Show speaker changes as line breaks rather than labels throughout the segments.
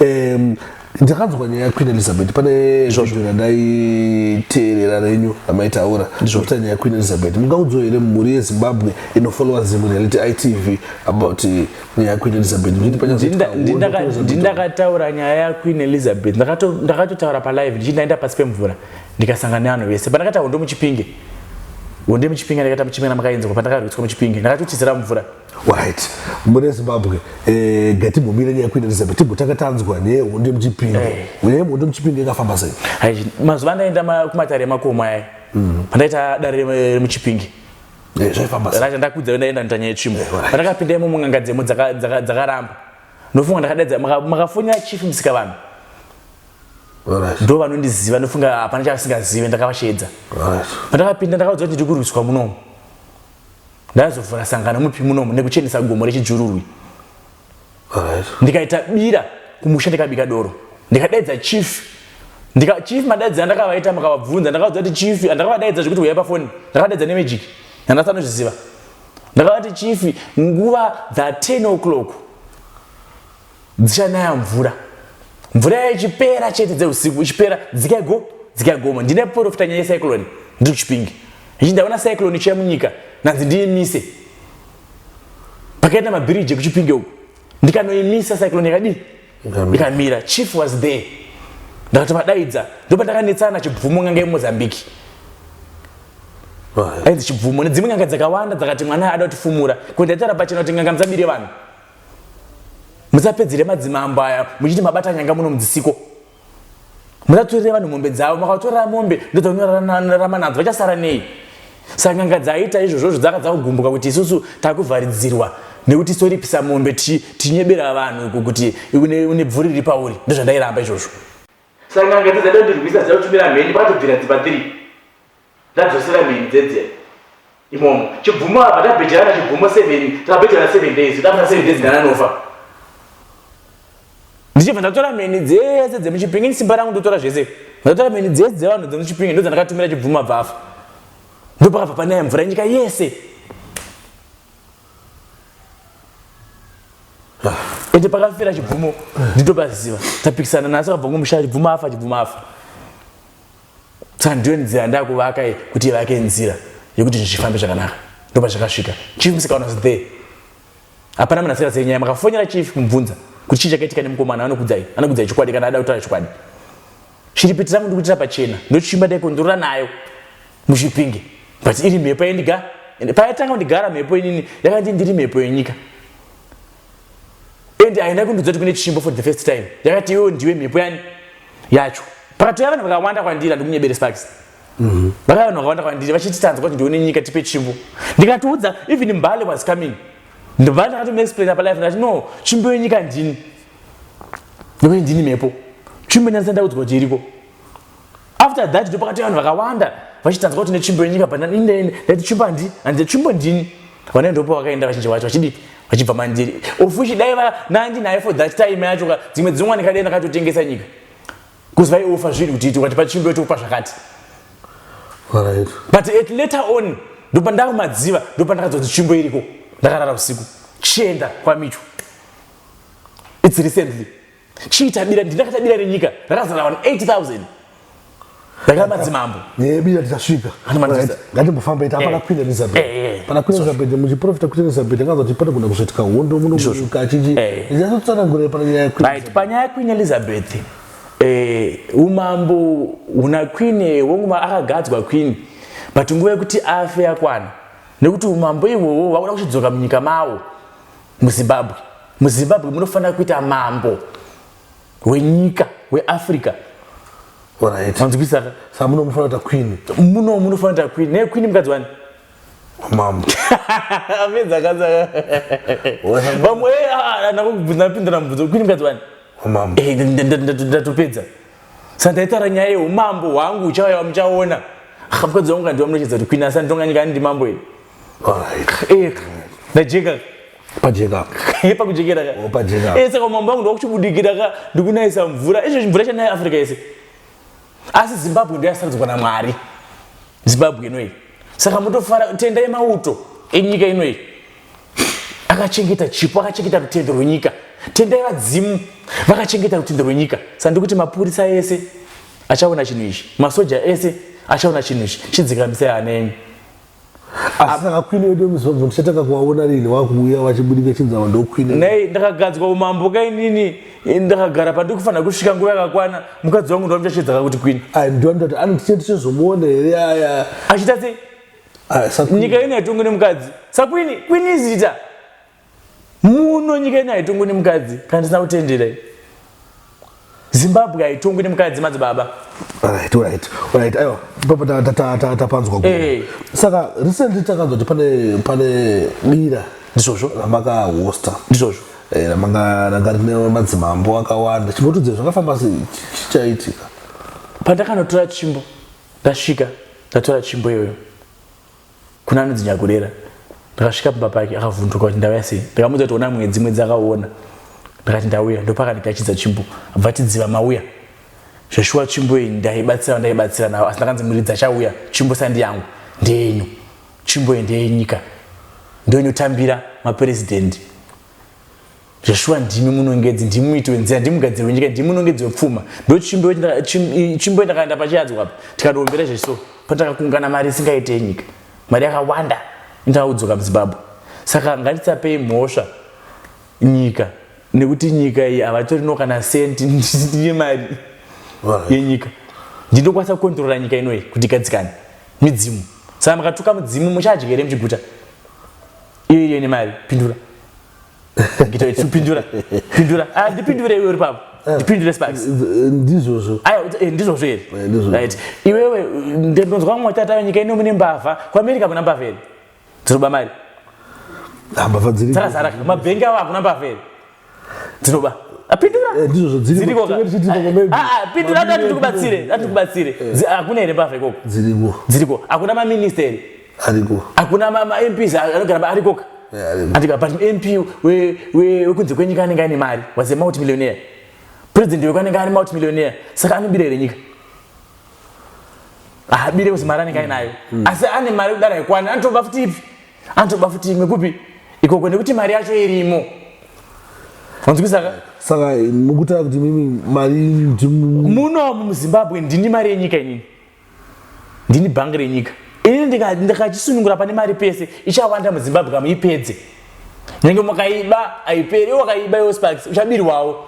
um, ndakanzwa nyaya yaqueen elizabeth pane zvondo randaiteerera renyu ramaitaura zvokuta nyaya yaqueen elizabeth mungaudzo here mhuri yezimbabwe inofollowa zimwe reality itv about eh, nyaya yaqueen elizabeth ndindakataura
nyaya yaqueen elizabeth ndakatotaura palive ndichindaenda pasi pemvura ndikasangana nevanhu vese pandakataura ndomuchipinge wonde muchipinge ndakaita muchipinge namakaenzwa pandakarwiswa muchipinge ndakatotizira mvura Right.
Mune Zimbabwe, eh, gatimbomira nyaya yekuenda neZimbabwe timbotanga tanzwa nehondo yemuchipinge. Eh. Nyaya yehondo muchipinge ikafamba sei? Hai, mazuva andaenda
ma- kumatare emakomo aya pandaita dare rem- remuchipingi Eh, zvaifamba
sei? racho ndakudza ndaenda nita nyaya
yetsvimbo Eh, right. pandakapinda imomo n'anga dzemo dzaka- dzaka- dzakaramba ndofunga ndakadaidza maka- makafonera chief musika vanhu Right. ndo vanondiziva ndofunga hapana chavasingazive ndakavasheedza Right. pandakapinda ndakaudzwa kuti ndiri kurwiswa munomu ndaizovhura sangano mupi munomu nekuchenesa gomo rechijururwi ndikaita bira kumusha ndikabika doro ndikadaidza chief ndika chief madaidzira ndakavaita makavabvunza ndakavaudza kuti chief ndakavadaidza zvekuti huyai pafoni ndakavadaidza nemagic ndandasanozviziva ndakavati chief nguva dza 10 o'clock dzichanaya mvura mvura yayo ichipera chete dzeusiku ichipera dzikai go dzikai goma ndine profita nyaya yecyclone ndiri kuchipingi ichi ndaona cyclone ichiya munyika nanzi ndiimise pakaita mabhiriji ekuchipinge uku ndikanoimisa cyclone yakadii ikamira chief was there ndakati vadaidza ndopandakanetsana chibvumo nganga yemozambique ainzi chibvumo nedzimwe nganga dzakawanda dzakati mwana ada kutifumura kuti ndaitara pachena kuti nganga musabire vanhu musapedzere madzimambo aya muchiti mabata nyanga muno mudzisiko musatorere vanhu mombe dzavo makatorera mombe ndodzanorarama nadzo vachasara nei saka n'anga dzaiita izvozvozvo dzaka dzakugumbuka kuti isusu takuvharidzirwa nekuti soripisa mombe tichinyebera vanhu kuti une bvuri riri pauri ndozvandairamba izvozvo saka n'anga dzidzaida kundirwisa dzida kutumira mheni vakatobvira dzibva dziri Ndadzosera mheni dzedzera imomo chibvumo apa ndabhejerana chibvumo seven takabhejerana seven days ndafuna seven days ndananofa ndichibva ndatora mheni dzese dzemuchipingi simba rangu ndotora zvese ndatora mheni dzese dzevanhu dzemuchipingi ndodzandakatumira chibvumo abva afa ndopakabva panaya mvura nyika yese ende pakafira chibvumo nditopaziva tapikisana nasi akabva ngomushaya chibvumo afa chibvumo afa saka ndiyo nzira ndakuvaka kuti ivake nzira yekuti zvinhu zvifambe zvakanaka ndopa zvakasvika chief musikaona was there hapana munhu asikazive nyaya makafonera chief kumubvunza kuti chii chakaitika nemukomana anokudzai anokudzai chokwadi kana ada kutaura chokwadi shiripiti rangu ndikuitira pachena ndochimba ndaikonzorora nayo muzvipinge but iri mhepo yendiga payatanga kundigara mhepo inini yakandii ndiri mhepo yenyika and haina kundiudza kuti kune chimbo for the first time yakati iwewo ndiwe mhepo yani yacho pakatouya vanhu vakawanda kwandiri handikunyebere sparks mhm. vakauya vanhu vakawanda kwandiri vachiti tanzwa kuti ndione nyika tipe chimbo ndikatiudza even mbale was coming ndobva ndakatomaexplaina palife ndati no chimbo yenyika ndini nekuti ndini mhepo chimbo ndanisa ndaudzwa kuti iriko after that ndipo pakati vanhu vakawanda vachitanzwa kuti netsvimbo yenyika but ndetsvimbo handi handitsvimbo ndini vane ndopo vakaenda vazhinji vacho vachidii vachibva mandiri of which dai nandinaye for that time yacho ka dzimwe dzinongwa ndikadai ndakatotengesa nyika bcause vaiofa zvinhu kuti iti ukati pachimbo itokupa zvakati but at later on ndopandakumadziva ndopandakadzodzi tsvimbo iriko ndakarara usiku chienda kwamicho its recently chii tabira ndini akatabira renyika rakazara vanhu 8000 rakada madzimambo nebira
tichasvika ngatimbofamba ita hapana queen elizabeth eh, eh, eh. pana queen elizabeth muchiprofita queen elizabeth akaza kuti panogona kuzoitika hondo munomuka achiti ndinazotsanangurira pana nyaya yaqueen panyaya yaqueen
elizabeth umambo huna queen wenguma akagadzwa queen but nguva yekuti afe yakwana nekuti umambo ihwohwo vakuda kuchidzoka munyika mawo muzimbabwe muzimbabwe munofanira kuita mambo wenyika weafrica
anzwisa sa muno munofanira kuita queen muno munofanira kuita queen
ne queen mukadzi wani mambo amedzakazaa vamwe eh, ah, ah, napindura mubvunzo queen mukadzi wani mambo eh,
ndatopedza
sandaitaura nyaya yeumambo hwangu uchauya wamuchaona mukadzi wangu kandiwa munochedza kuti kwina sanditonga nyika ani ndimambo iri eh, ndajeka pajeka
pakujekera
ka ese oh,
kamambo angu ndakuchibudikira
ka ndikunayisa mvura izvo mvura chanai africa yese asi zimbabwe ndoyasaradzwa namwari zimbabwe inoyi saka mutofara tenda yemauto enyika inoyi akachengeta chipo akachengeta rutendo rwenyika tendai vadzimu vakachengeta rutendo rwenyika sa ndikuti mapurisa ese achaona chinhu ichi masoja ese achaona chinhu ichi chidzikamisai hana yenyu
asaka kwini wedu muzobvu ndichatanga kuvaona rini wakuuya vachibudika chinzava ndokwini nei ndakagadzwa
umambo kainini ndakagara pandiri kufanira kusvika nguva yakakwana mukadzi wangu ndovandichachedzaka kuti kwini ndivanoti anoti chete
chezomuona here aya achita sei
ah, nyika ino haitongwe nemukadzi sakwini kwini izita muno nyika ino haitongwe nemukadzi kana tisina kutendera zimbabwe haitongwe nemukadzi madzibaba tapanzwa eh. saka recently takanzwa kuti pane dira ndizvozvo ramakahosta
ndizvozvo eh,
ramanga ranga
rine madzimambo akawanda chimbotudzei zvakafamba sei chichaitika pandakanotora
chimbo Ndasvika ndatora tsvimbo iyoyo kuna anonzi Nyakurera. Ndakasvika pamba pake akavhunduka kuti ndauya sei. Ndakamuudza kuti ona mwedzi mwedzi akaona. Ndakati ndauya ndopakandigachidza tsvimbo abva tidziva mauya. Zveshuwa tsvimbo iyi ndaibatsira ndaibatsira nawo asi ndakanzi muridzi achauya tsvimbo sandi yangu ndeyenyu. Tsvimbo iyi ndeyenyika. Ndoinotambira mapresident. zveshuwa ndimi munongedzi ndimi muiti wenzira ndimi mugadziri wenyika ndimi munongedzi wepfuma ndochimbo ndakaenda pachiyadzwa apa tikatiombera zveso patakakungana mari isingaite yenyika mari yakawanda indaudzoka muzimbabwe saka ngatisapei mhosva nyika nekuti nyika iyi havatorino kana senti ndine mari yenyika ndinokwanisa kukontrora nyika inoyi kuti igadzikane midzimu saka makatuka mudzimu muchadya here muchiguta iyo iyo ine mari pindura ngita ichi pindura pindura ah ndipindure iwe ripapo eh. ndipindure sparks eh, eh, ndizvozvo
ayo ndizvozvo here
right iwewe ndinonzwa mwa tata nyika ino mune mbavha kwa america muna mbavha here dzinoba mari ah,
mbavha dziri dzara zara mabhengi awo
akuna mbavha here dzinoba apindura ah, ndizvozvo dziri dziri kwa
ah, ah
pindura ati ndikubatsire ati ndikubatsire akuna here mbavha ikoko dziriko dziriko akuna ma minister here ariko hakuna
mamps
anogara paarikoka atika but mp wekunze kwenyika anenge aine mari was a multi millionaire president weko anenge ari multi millionaire saka anobira here nyika haabire kuzi mari anenge ainayo mm. asi ane mari kudara yekwana anotoba futi ipi anotoba futi imwe kupi ikoko nekuti mari yacho irimo wanzwisaka saka
mukutaura kuti mimi mari munomu
muzimbabwe ndini mari yenyika inini ndini bhangi renyika ini ndikachisunungura pane mari pese ichawanda muzimbabwe kamuipedze nenge makaiba aiperi wakaiba iwo sparks uchabirwawo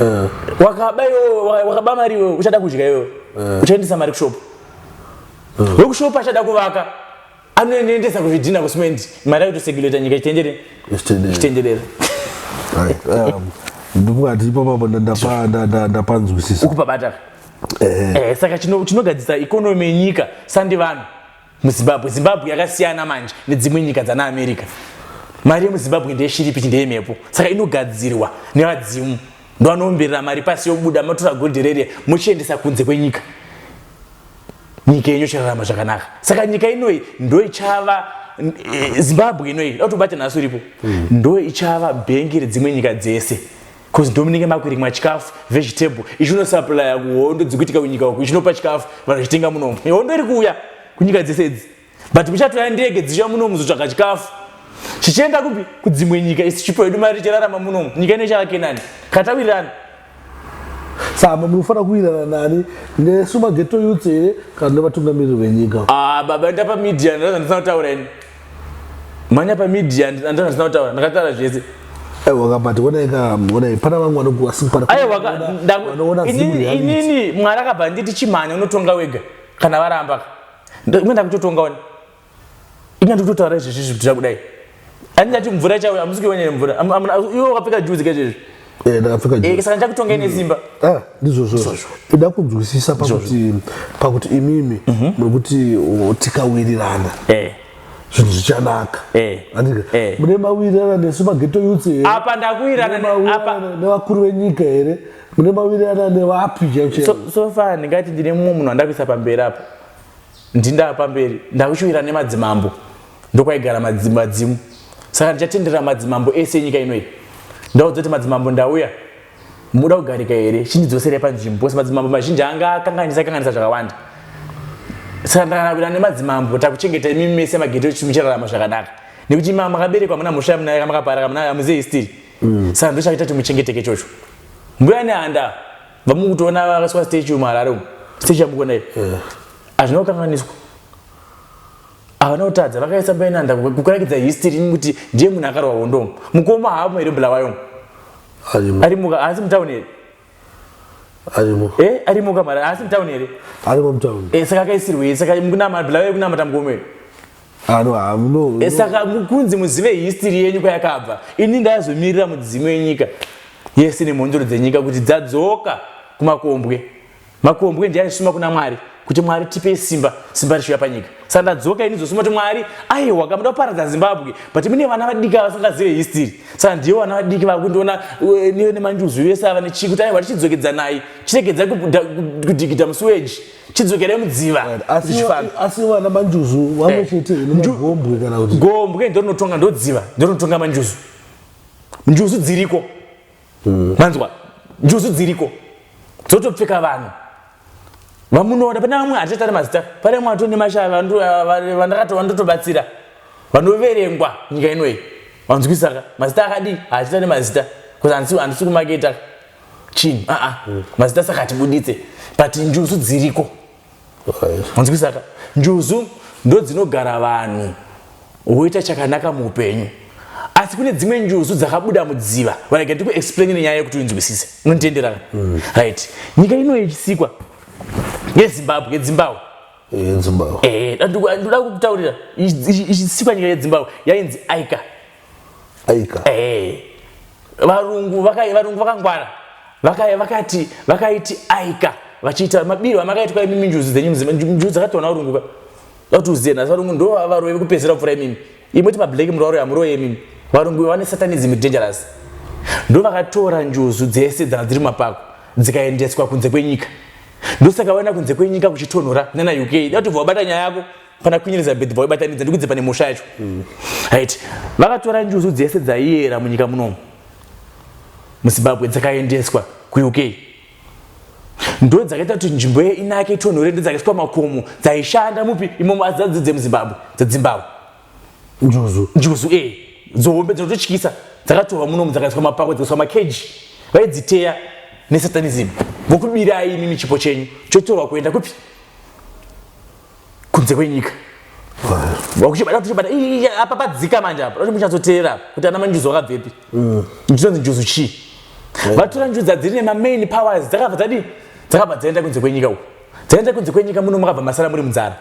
eh. wakaba iwo wakaba mari iwo uchada kudya iwo eh. uchaendesa mari kushopo eh. wekushopo achada kuvaka anonendesa kuzvidhina kucement mari yakuto seguleta nyika chitenderere chitenderere
um, ndikungati ipapapo ndapanzwisisa ukupa bata
eh. eh, saka chinogadzisa ikonomi yenyika sandi vanhu muzimbabwe zimbabwe yakasiyana manje nedzimwe nyika dzana america mari yemuzimbabwe ndeyeshiripiti ndeyemhepo saka inogadzirwa nevadzimu ndovanoomberera mari pasi yobuda matora goldhi rere mochiendesa kunze kwenyika nyika yenyu chirarama zvakanaka saka nyika inoyi ndo ichava eh, zimbabwe inoyi dautobata nhasi uripo mm. ndo ichava bhengi redzimwe nyika dzese bcause ndomunenge makurimwa chikafu vegetable ichinosaplya kuhondo dzikuitika kunyika uku ichinopa chikafu vanhu vachitenga munomo hondo iri kuuya kunyika dzese idzi but muchatoya ndege dzichiya muno muzotsvaga chikafu chichienda kupi kudzimwe nyika isi chipo yedu mari tichirarama munomu nyika ino ichavake nani katawirirana
samba munofanira kuwirirana nani nesu mageto youth here kana nevatungamiriri venyika ah, baba enda pamedia
ndazva ndisina kutaura ini manya pamedia ndazva ndisina kutaura ndakataura zvese
inini mwari
akabva nditi chimhanya unotonga wega kana varambaka Ndikuti ndakutotonga wani. Ina ndikutotaura izvi izvi zvitira kudai. Andati mvura ichauya amusi kuona mvura. Iwe wakapfeka juzi ke izvi. Eh ndakapfeka eh, juzi.
Eh saka ndakutonga ine simba.
Mm. Ah ndizvo zvo.
Ida kunzwisisa pakuti pakuti imimi mhm. muri kuti tikawirirana. Eh zvinhu zvichanaka eh. eh. mune mawirirana nesu mageto yutsi hereapa ndakuwirirana
nevakuru
venyika here mune mawirirana nevapi chaicho so, so far ndingati
ndine mumwe munhu andakuisa pamberi apa ndindaa pamberi ndakuchiwira nemadzimambo ndokwaigara madzimu saka ndichatendera madzimambo ese enyika inoyi ndaudza kuti madzimambo ndauya muda kugarika here chindidzoserai panzvimbo bcause madzimambo mazhinji anga akanganisa kanganisa zvakawanda saka ndakanawira nemadzimambo takuchengeta imimi mese magete echitumi chirarama zvakanaka nekuti imama makaberekwa muna mhosva yamunayo kamakaparaka munayo amuzivi stiri mm. saka ndochakaita kuti muchengeteke ichocho mbuya nehanda vamukutoona vakaswa statue muharare umu statue yamukuona iyo eh. hazvina kukanganiswa havana kutadza vakaisa mbuya nehanda kukurakidza history ini kuti ndiye munhu akarwa hondomu mukoma haavo here bulawayo arimuka haasi mutauni here arimo eh arimo kamari asi town here arimo mutown eh
saka akaisirwe saka
mukunama bila wewe kunamata mugomero ano hamuno eh saka mukunzi muzive history yenyu kwayakabva ini ndayazomirira mudzimu yenyika yese nemhondoro dzenyika kuti dzadzoka kumakombwe Makombwe ndiye aisuma kuna Mwari kuti Mwari tipe simba, simba richiuya panyika. Saka ndadzoka ini zosuma kuti Mwari, aiwa kamuda kuparadza Zimbabwe, but mune vana vadiki avasingazive history. Saka ndiyo vana vadiki vakundiona eh, niyo nemanjuzu vese ava nechii kuti aiwa tichidzokedzanai, chiregedzai kudhigidha musuweji, chidzokerai mudziva. Asi
vana manjuzu vamwe eh. chete gombwe kana kuti gombwe ndorinotonga
ndodziva ndorinotonga manjuzu, njuzu dziriko mm. manzwa njuzu dziriko dzotopfeka vanhu vamunoda pane vamwe hatichataura mazita pane vamwe vato nemashava vandakatova ndotobatsira vanoverengwa nyika inoyi vanzwisaka mazita akadii haachita nemazita bcause handisi kumaketa chinhu aa mazita saka hatibuditse but njuzu dziriko munzwisaka njuzu ndodzinogara vanhu woita chakanaka muupenyu asi kune dzimwe njuzu dzakabuda mudziva varega ndikuexplaini nenyaya yekuti uinzwisise unonditenderana mm. right nyika ino yechisikwa yezimbabwe yedzimbabwe yedzimbabwe eh, ndoda kukutaurira ichisikwa nyika yedzimbabwe yainzi aika aika eh varungu vakai varungu vakangwara vakai vakati vakaiti aika vachiita mabiro amakaitwa imimi njuzu dzenyu mzima njuzu dzakatoona varungu ka vatuziye nhasi varungu ndo varoyi vekupedzisira kupfura imimi imoti mablack mnhu varoyi hamuroye imimi varungu vane satanism dangerous ndo vakatora njuzu dzese dzanga dziri mapako dzikaendeswa kunze kwenyika ndosaka vaenda kunze kwenyika kuchitonhora nana uk datobva wabata nyaya yako pana Queen Elizabeth vaibatanidza ndikudze pane musha yacho mm. right vakatora njuzu dzese dzaiera munyika munomu muzimbabwe dzakaendeswa kuuk ndo dzakaita kuti nzvimbo ye inake itonhore ndo dzakaiswa makomo dzaishanda mupi imomo asi dzadzidzi dzemuzimbabwe dzedzimbabwe njuzu njuzu e eh. dzohombe dzinototyisa dzakatorwa munomu dzakaiswa mapako dzikaiswa makeji vaidziteya nesatanism vokubirai imi michipo chenyu chotorwa kuenda kupi kunze kwenyika vakuchibata kuchibata apa padzika manje apa kuti muchazotera kuti ana manjuzu wakabvepi mm. ndizonzi njuzu chii vatora njuza dziri nemamain powers dzakabva dzadii dzakabva dzaenda kunze kwenyika uku dzaenda kunze kwenyika muno makabva masara muri munzara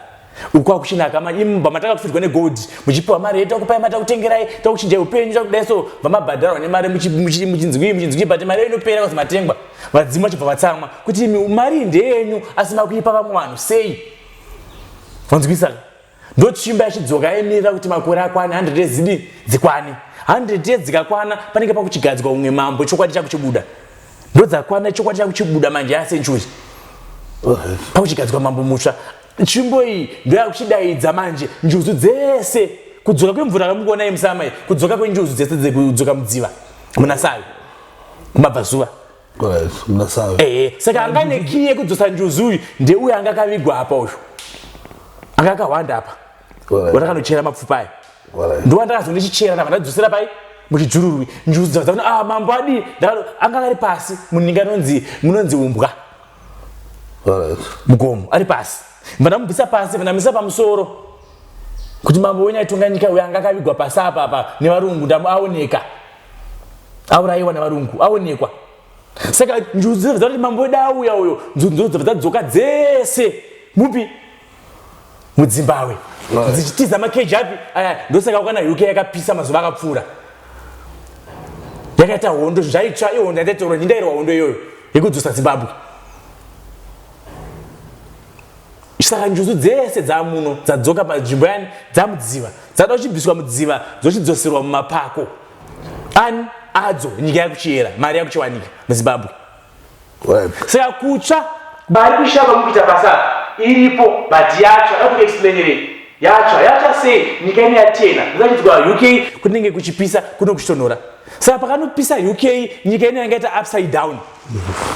uku akuchinaka manje imba matakatufirwa negold muchipiwa mari yedu takupai mari takutengerai takuchinjai upenyu takudai so vamabhadharwa nemari muchinzwii muchinzwii but mari yenyu inopera kuzi matengwa vadzimu vachibva vatsamwa kuti imi mari ndeyenyu asi makuipa vamwe vanhu sei vanzwisa ndochimba yachidzoka yaimirira kuti makore akwane 100 yezidi dzikwane 100 yedzikakwana panenge pakuchigadzwa umwe mambo chokwadi chakuchibuda ndodzakwana chokwadi chakuchibuda manje yasenchuri pakuchigadzwa mambo mutsva tsvimbo iyi ndoyakuchidaidza manje njuzu dzese kudzoka kwemvura kamukuona yemusama kudzoka kwenjuzu dzese dzekudzoka mudziva munasavi kumabvazuva
ehe saka anga ane
kii yekudzosa njuzu uyu ndeuyo anga akavigwa apa uyu anga akahwanda apa watakanochera mapfupa aya ndowandakazo ndichichera ndava ndadzosera pai muchidzururwi njuzu dzava dzaona ah, mambo adii ndakano anga ari pasi muninga anonzi munonzi umbwa mugomo ari pasi vandamubvisa pasi vandamisa pamusoro kuti mambo wenyu aitonga nyika uyo anga akavigwa pasi apa apa nevarungu ndamuaoneka auraiwa navarungu aonekwa saka njuzu dzabva dzati mambo wedu auya uyo njuzu dzabva dzadzoka dzese mupi mudzimbawe dzichitiza makeji api aya ndosaka wakana uk yakapisa mazuva akapfuura yakaita hondo zvaitsva ihondo yataitaura ndindairwa hondo iyoyo yekudzosa zimbabwe saka njuzu dzese dzamuno dzadzoka panzvimbo yani dzamudziva dzada kuchibviswa mudziva dzochidzoserwa mumapako ani adzo nyika yakuchiyera mari yakuchiwanika muzimbabwe saka kutsva mari kushava mukuita basa iripo but yatsva dakuexplainerei yatsva yatsva sei nyika ine yatena zvachidzwa uk kunenge kuchipisa kuno kuchitonhora saka pakanopisa uk nyika ine yanga ita upside down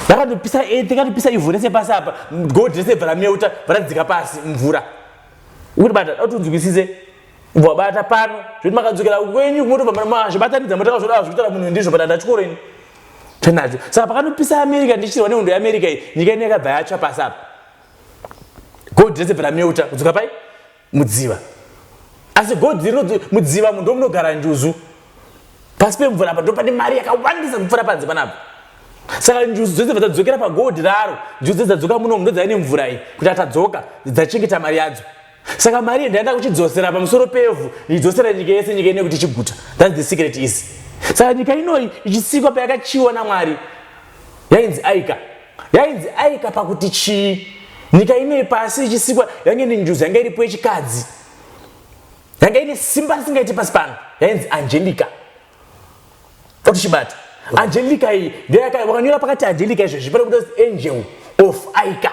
Yakatopisa earth, yakatopisa ivhu rese pasi apa, gold rese bva rameuta, bva radzika pasi mvura. Uri bata, kuti unzwisise bva bata pano, zvekuti makadzokera kwenyu motobva mazvibatanidza motaka zvoda zvekutaura munhu ndizvo but ndachikoro ini. Tinacho. Saka pakatopisa America ndichirwa nehondo yeAmerica iyi, nyika ino yakabva yatsva pasi apa. Gold rese bva rameuta, kudzoka pai? mudziva asi godhi rinoti mudziva munhu ndomunogara njuzu pasi pemvura apa ndopane mari yakawandisa kupfuura panze panapa saka njuzu dzose dzadzokera pagodhi raro njuzu dze dzadzoka muno mundo dzaive nemvura iyi kuti atadzoka dzachengeta mari yadzo saka mari yendaenda kuchidzosera pamusoro pevhu idzosera nyika yese nyika ine kuti chiguta thats the secret is saka nyika inoyi ichisikwa payakachiwa namwari yainzi aika yainzi aika pakuti chii nyika inoyi pasi ichisikwa yange ine njuzi yanga iripo yechikadzi yanga ine simba risingaiti pasi pano yainzi angelica otichibata angelica iyi ndeyaka wakanyora pakati angelica izvezvi pane kuda angel of aika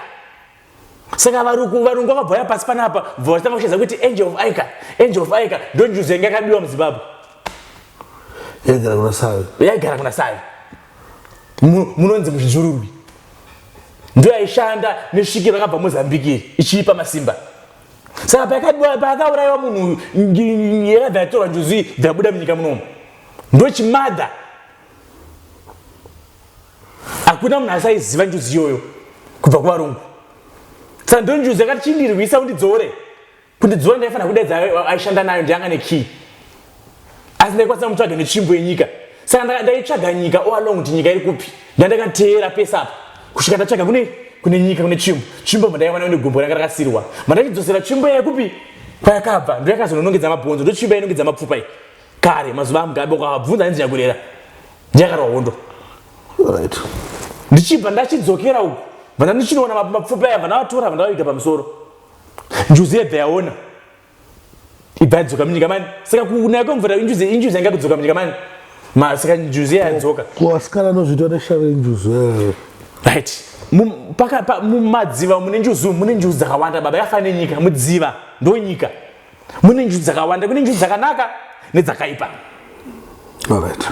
saka varuku varungu vakabvaya pasi panapa bva vachitanga kushedza kuti angel of ica angel of ica donjuz yange yakabiwa muzimbabwe yaigara kuna savi yaigara kuna savi munonzi muzvizururwi ndo yaishanda nesvikiro akabva mozambikiri ichiipa masimba saka paakaurayiwa munhu uyu yakabva yatorwa njuzi dzabuda munyika munomu ndochimadha hakuna munhu asaiziva njuzi iyoyo kubva kuvarungu saka ndo njuzi yakati chindirwisa undidzore kundidzora ndaifanira kudaidza aishanda nayo ndiyanga nekey asi ndaikwanisa mutsvaga netsvimbo yenyika saka ndaitsvaga nyika o along kuti nyika iri kupi ndandakateera pese apa kusvika ndatsvaga kune kune nyika kune tsvimbo tsvimbo mandaiwana une gumbo ranga rakasirwa mandaichidzosera tsvimbo yekupi kwayakabva ndoyakazononongedza mabhonzo ndotsvimbo yainongedza mapfupa iyi kare mazuva amugabe ukavabvunza ainzi nyakurera ndiyakarwa hondo right ndichibva ndachidzokera uku vana ndichinoona mapfupa aya vana vatora vana vaviga pamusoro njuzi yebva yaona ibva yadzoka munyika mani saka kunaya kwemvura injuzi injuzi yanga kudzoka munyika mani ma saka njuzi yayadzoka kuasikana anozviita
neshave injuzi yayo right
mumadziva mune njuzi mune njuzi dzakawanda baba yakafanira nenyika mudziva ndonyika mune njuchi dzakawanda kune njuchi dzakanaka nedzakaipa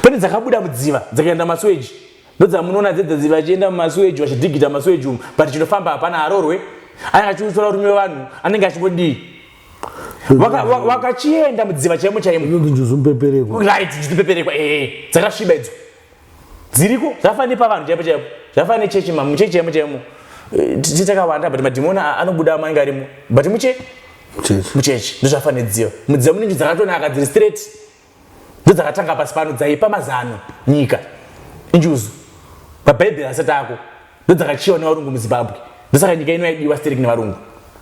pane dzakabuda mudziva dzakaenda masweji ndodzamunoona dzedzadziva achienda mumasweji vachidhigita masweji umu but chinofamba hapana arorwe anenge achiutora urume wevanhu anenge achingodii vakachienda mudziva chaimo chaimo right njuchipeperekwa
ee
eh, eh, eh. dzakasviba idzo dziriko zvafanira nepavanhu chaipo chaipo zvafanira nechechi ma muchechi chaimo chaimo eh, tiche takawanda but madhimoni anobuda amainge arimo but muche muchechi ndozvafanira dziva mudziva mune nzvi dzakatonaka dziri straight ndodzakatanga pasi pano dzaipa mazano nyika injuzu pabhaibheri asati ako ndodzakachiwa nevarungu muzimbabwe ndosaka nyika ino yaidiwa sterek nevarungu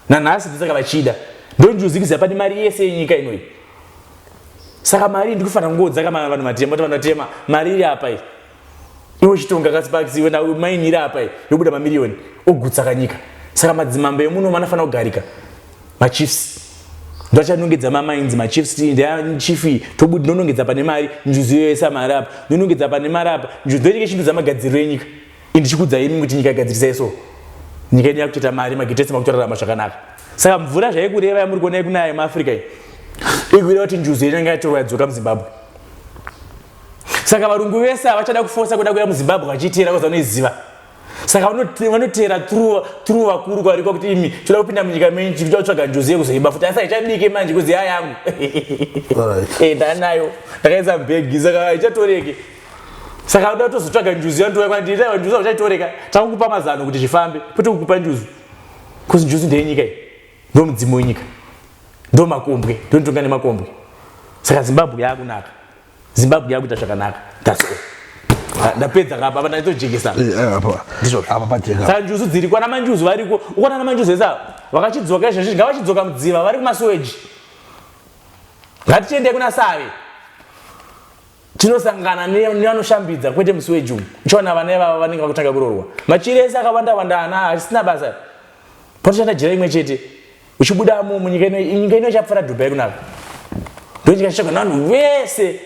nanhasi ndosaka vachida ndonjuzikiziva pane mari yese yenyika inoyi saka mari iyi ndikufanira kungodzaka vanhu matema kuti vanhu vatema mari iri apa iyi iwe chitonga kasipakisi iwe namaini iri apa iyi yobuda mamiriyoni ogutsaka nyika saka madzimambo emuno vanofanira kugarika machiefs ndovachanongedza mamainzi machiefs ti ndichief iyi tobudi ndonongedza pane mari njuzi yoyesa mari apa ndonongedza pane mari apa njuzi ndoinike chinhu dzamagadziriro enyika ini ndichikudzai imi kuti nyika igadzirisai so nyika yedu yakutoita mari magitesi makutorarama zvakanaka saka mvura zvaikureva yamuri kuona yekunaya yemaafrica iyi ikureva kuti njuzu yenyu yanga yatorwa yadzoka muzimbabwe saka varungu vese havachada kufosa kuda kuya muzimbabwe vachiteera koza vanoiziva saka vanoteera tru vakuru kwarikwa kuti imi toda kupinda munyika menyu chikuti vatsvaga njuzi yekuzoiba futi asi haichabike manje kuzi ya yangu ndanayo ndakaisa mbegi saka haichatoreke saka unoda kutozotsvaga njuzu yandiuya kwandiitaiwa njuzu auchaitoreka takukupa mazano kuti zvifambe kwete kukupa njuzu bcause njuzu ndeyenyika iyi ndo mudzimu wenyika ndo makombwe ndonitonga nemakombwe saka zimbabwe yakunaka zimbabwe yakuita zvakanaka that's all ah, ndapedza kapa apa ndaitojekesa eh, eh,
ndizvosaka njuzu dziri kwana manjuzu
variko ukwana na manjuzu ese ava vakachidzoka izvezvi ngavachidzoka mudziva vari kumasuweji ngatichiendei kuna save tinosangana nevanoshambidza kwete musi wejune uchiona vana ivava vanenge vakutanga kurorwa machiri ese akawanda wanda ana harisina basa patoshanda jira imwe chete uchibuda mu munyika ino nyika ino ichapfara dubai kunaka ndochika chichaka navanhu vese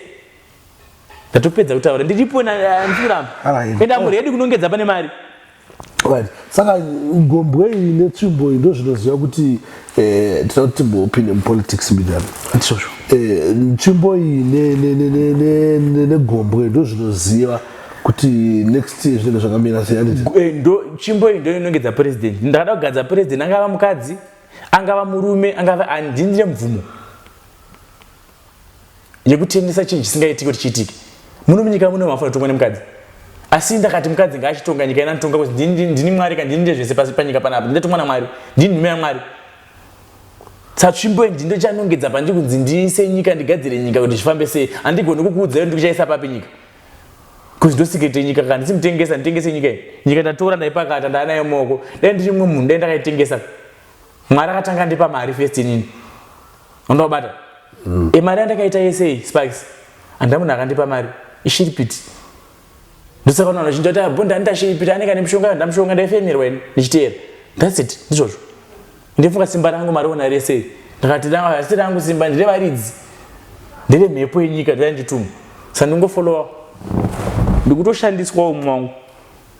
ndatopedza kutaura ndiripo ndifiramba enda muredi kunongedza pane mari right
saka gombwe iyi netsvimbo iyi ndozvinoziva kuti eh, tinoda kuti timbopinde mupolitics midano ndizvozvo eh, nzvimbo iyi ne- ne- ne- ne- ne- ne- negombwe ndozvinoziva kuti next year zvinenge zvakamira sei handiti Eh, ndo
tsvimbo iyi ndo inongedza president ndakada kugadza president angava mukadzi angava murume angava handindine mvumo yekutengesa chinhu chisingaitiki kuti chiitike muno munyika muno mafa totongwa nemukadzi asi ndakati mukadzi ngaachitonga nyika ina nditonga kuti ndini mwari ka ndini ndezvese pasi panyika panapa ndindatongwa namwari ndini nhume yamwari satsvimbo ndi ndochanongedza pandiri kunzi ndiise nyika ndigadzire nyika kuti zvifambe sei handigoni kukuudza yo ndikuchaisa papi nyika kuzi ndosikete nyika ka ndisi mutengesa nditengese nyika iyi nyika ndatora ndaipakata ndaanayo moko dai ndiri mumwe munhu dai ndakaitengesa mwari akatanga ndipa mari fest inini Unobata. Mm. E mari andakaita yese iyi Sparks. Anda munhu akandipa mari. Ishiripiti. Ndosaka unaona chinja kuti abho ndani ndashiripiti aneka nemushonga ndamushonga ndaifemerwa ini ndichiteera. That's it. Ndizvozvo. Ndifunga simba rangu mari ona rese iyi. Ndakati rangu asi rangu simba ndire varidzi. Ndire mhepo yenyika ndire nditumu. Sandingofollowa. Ndikutoshandiswa umwe wangu.